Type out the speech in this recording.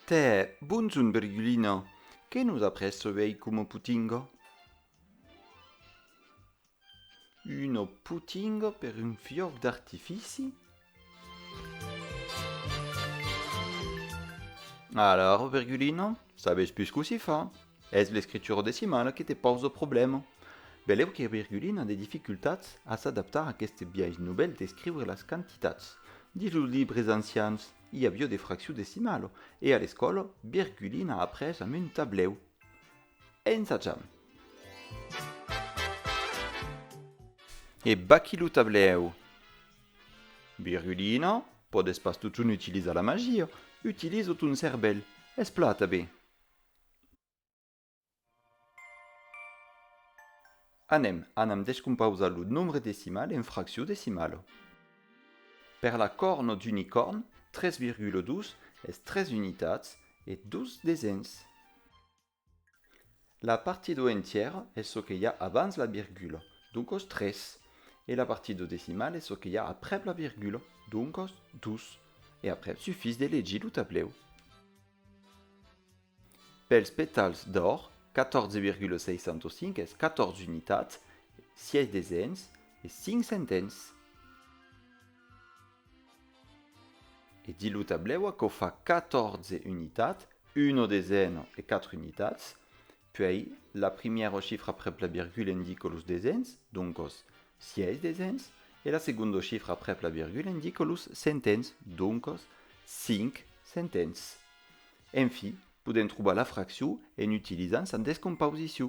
Tè, bonson Virgulina, que nos apresse ei coma potinga? Uno putingo per un fiòc d'artifici? Alara, Virgulino, sabes pus cossí fa. Es l'escritura decimala que te pòs lo problèma. Velèu que Virgulina a de dificultats a s'adaptar a aqueste biais novèl d'escriure las quantitats. Dins los libres ancians, i avió de fracciu decimalo, e a l'escòla, Virgulina a après amb un tablèu. E insatjam. E baquí lo tablèu. Virgulina, Pòdes pas totun utilizar la magia, utilizo ton cervèl, esplata be. Anem, anam descompausar lo nombre decimal en fraccion decimala. Per la corna d'unicòrn, 3,2 es 3 unitats e 2 desens. La partie do entièr es çò que i a abans la virgula, doncas 3, e la partie do decimal es çò que i a aprèp la virgula, doncas 2, e après sufís de legir lo tablèu. Pels petals d'òr, 14,605 es 14 unitats, 6 desens e 5 centens. E di lo tablèu aquò fa 14 unitats, uno deseno e 4 unitats, puèi la primièra chifra aprèp la virgula indica los desens, doncas 6 desens, e la segonda chifra aprèp la virgula indica los centens, doncas 5 centens. Enfi, podèm trobar la fraccion en utilizant sa descomposició.